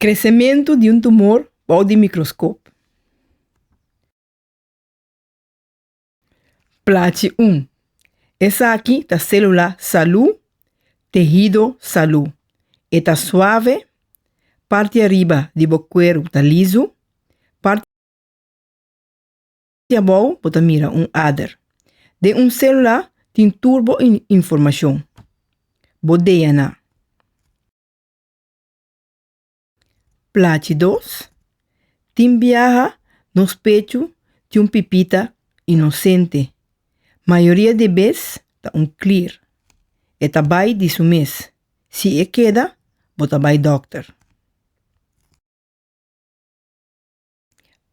Kresementu di un tumor bou di mikroskop. Plachi 1. Esaki ta sélula salú, tehido salú. E ta suave, parti ariba di bo kueru ta lisu, parti. Di abou bo ta mira un ader. Den un célula tin tur bo informacion. Bo DNA. Plachi dos, Tin biaha nos pechu di un pipita inosente. Mayoria di e bes ta un clear. E ta bai di su mes. Si e keda, bo ta bai dokter.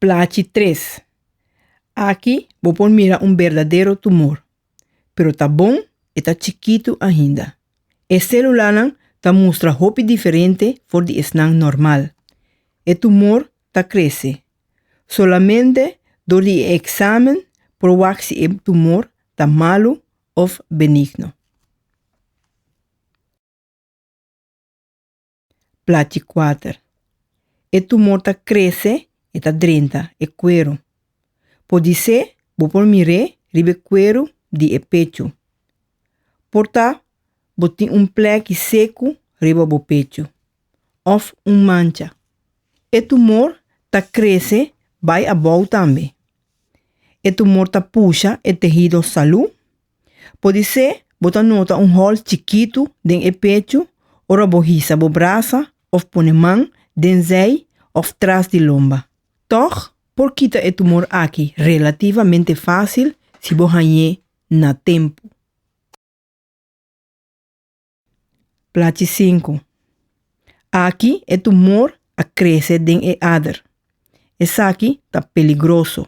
Plachi tres. Aki bo por mira un berdadero tumor, pero ta bon e ta chikitu ainda. E selulanan ta mustra hopi diferente for di esnan normal. E tumor ta krese. Solamente dor di e eksamen por wak si e tumor ta malu òf benigno. plati kuater. E tumor ta krese, e ta drenta e kueru. Podisé bo por mir'é riba e kueru di e pechu. Por ta bo tin un plèki seku riba bo pechu òf un mancha. E tumor ta krese bai abou tambe. E tumor ta pusha e tehido salú. Podisé bo ta nota un hòl chikitu den e pechu ora bo hisa bo brasa òf pone man den zèi òf tras di lomba. Tòg, por kita e tumor akí relativamente fásil si bo hañ'é na tempu. Plachi sinku. Aki e tumor a krese den e ader. Esaki ta peligroso.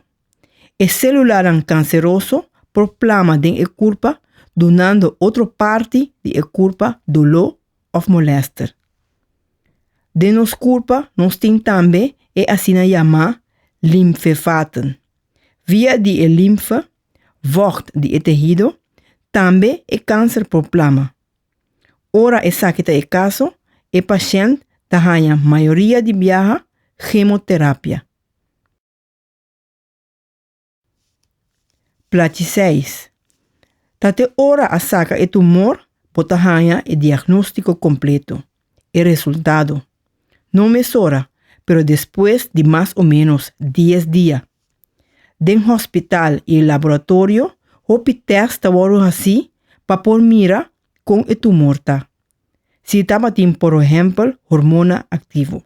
E selulanan kanseroso por plama den e kurpa dunando otro parti di e kurpa doló òf molèster. Den nos kurpa nos tin tambe e asina yamá limfevaten. Via di e limfe vògt di e tehido, tambe e kanser por plama. Ora esaki ta e kaso, e pashènt ta haña mayoria di biaha hemoterapia. Plachiseis. Ta te ora a saka e tumor bo ta haña e diagnóstiko kompleto, e resultado, no mesora, pero despues di mas o ménos dies dia. Den hospital y laboratorio hopi test ta wordo haci pa por mira con e tumor ta. Si tabatin por ehempel hormona activo.